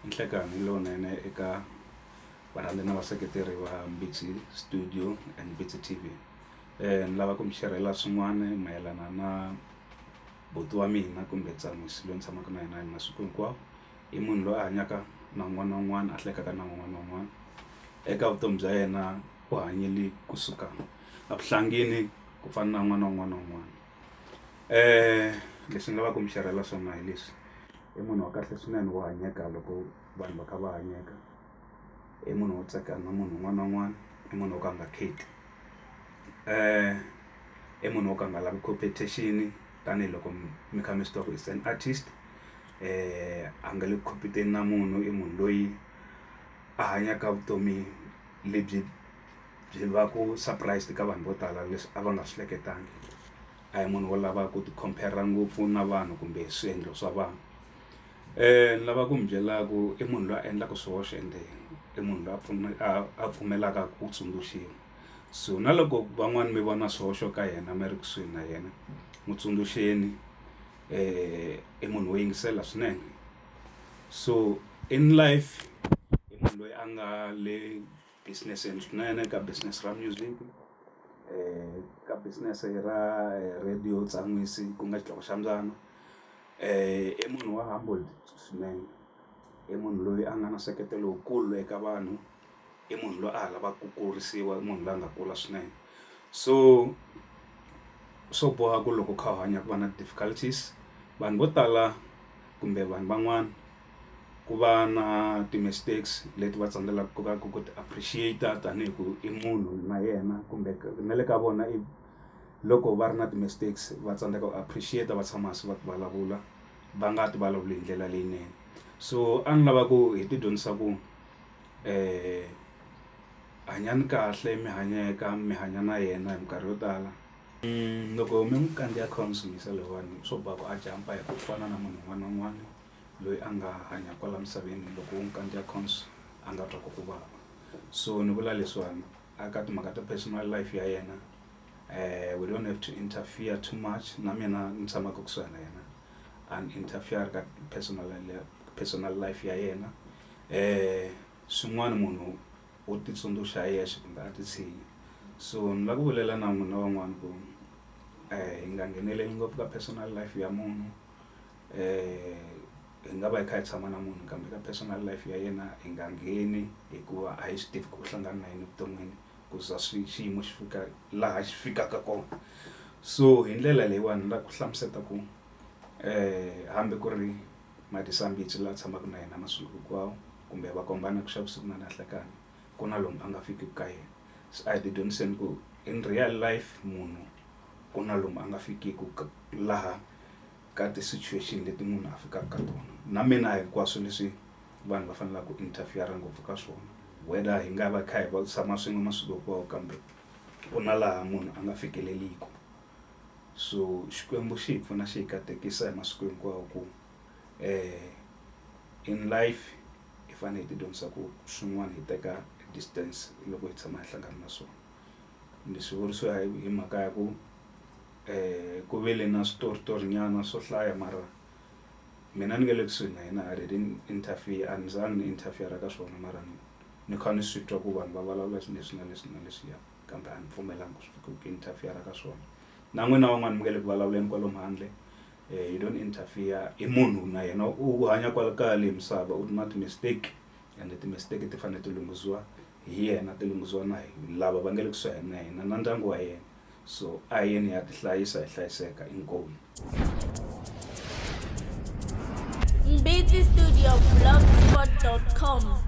I nhlekani lowunene eka varhandza na vaseketeri va Mbitsi studio and Mbitsi T_V ni lava ku mi xerhela swin'wana mayelana na buti wa mina kumbe tsamise loyi ni tshamaka na yena hi masiku hinkwawo i munhu loyi a hanyaka na un'wana na un'wana a hleketa na un'wana na un'wana eka vutomi bya yena u hanyile kusuka evuhlangini ku fana na un'wana na un'wana na un'wana. Leswi ni lavaka ku mi xerhela swona hi leswi i munhu wa kahle swinene wa hanyeka loko vanhu va kha va hanyeka i munhu wo tsaka na munhu un'wana na un'wana i munhu wo ka a nga kheti i munhu wo ka a nga lavi competition tanihiloko mi kha mi swi tiva ku is an artist a nga le ku compete-eni na munhu i munhu loyi a hanyaka vutomi lebyi. byi va ku surprised ka vanhu vo tala leswi a va nga swi hleketangi a hi munhu wo lava ku ti compare ngopfu na vanhu kumbe swiendlo swa vanhu ni lava ku mi byela ku i munhu loyi a endlaka swihoxo ende i munhu loyi a pfuna a a pfumelaka ku tsundzuxiwa so na loko van'wani mi vona swihoxo ka yena mi ri kusuhi na yena n'wi tsundzuxeni i munhu wo yingisela swinene so in life i munhu loyi a nga le. business yenu swinene ka business ra music ka business ra radio tsan'wisi ku nga xitlhangu xa mbyana i munhu wa humble swinene i munhu loyi a nga na nseketelo lowukulu eka vanhu i munhu loyi a ha lavaka ku kurisiwa i munhu loyi a nga kula swinene so swo boha ku loko u kha u hanya ku va na difficulties vanhu vo tala kumbe vanhu van'wana. ku va na ti-mistakes leti va tsandzekaka ku va ku ku ti appreciate-a tanihi ku i munhu na yena kumbe na le ka vona i loko va ri na ti-mistakes va tsandzeka ku appreciate va tshama hansi va vulavula va nga ti vulavuli hi ndlela leyinene so a ni lava ku hi ti dyondzisa ku hanyani kahle mi hanyeka mi hanya na yena hi minkarhi yo tala loko mi n'wi kandziya kha mi n'wi sumisa lahawani swo boha ku a jampa hi ku fana na munhu un'wana na un'wana. loyi a nga hanya kwala misaveni loko wo n'wi kandziya cons a nga twa ku ku vava so ni vula leswiwani a ka timhaka ta personal life ya yena um we don't have to interfere too much na mina ni tshamaka kusuhi na yena a ni interfere ka personal personal life ya yena um swin'wana munhu u titsundzuxa hi yexe kumbe a titshinyi so ni la ku vulela na n'wina van'wani ku hi nga ngheneleli ngopfu ka personal life ya munhu hi nga va hi kha hi tshama na munhu kambe ka personal life ya yena hi nga ngheni hikuva a hi swi tivi ku u hlangana na yini evuton'wini ku za swi xiyimo xi fika laha xi fikaka kona so hi ndlela leyiwani ni lava ku hlamusela ku hambi ku ri Matisandzitsi la tshamaka na yena masiku hinkwawo kumbe va kombana ku xa vusiku na na nhlekani ku na lomu a nga fiki ka yena se a hi ti dyondziseni ku in real life munhu ku na lomu a nga fikiki laha. ka ti situation leti munhu a fikaka ka tona na mina hinkwaswo leswi vanhu va fanelaka ku interfere ngopfu ka swona whether hi nga va kha hi va tshama swin'we masiku hinkwawo kambe ku na laha munhu a nga fikeleliku so xikwembu xi hi pfuna xi hi katekisa hi masiku hinkwawo ku um in life hi fanele hi ti dyondzisa ku swin'wana hi teka distance loko hi tshama hi hlangana na swona ni swi vuriso hi hi mhaka ya ku ku ve le na switoritori nyana swo hlaya mara mina ni nge le kusuhi na yena a ri interfere a ni za ni interfere ka swona mara ni ni kha ni swi twa ku vanhu va vulavula xi leswi na leswi na leswiya kambe a ni pfumelanga ku ku interfere ka swona na n'wina van'wani mi nga le ku vulavuleni kwalomu handle you don't interfere i munhu na yena u hanya kwala ka leyi misava u na ti-mistake ende ti-mistake ti fanele ti lunghisiwa. hi yena ti lunghisiwa na hi lava va nga le kusuhani na yena na ndyangu wa yena so a hi yeni hi ya ti hlayisa hi hlayiseka inkomu Mbiti Studio blogspot.com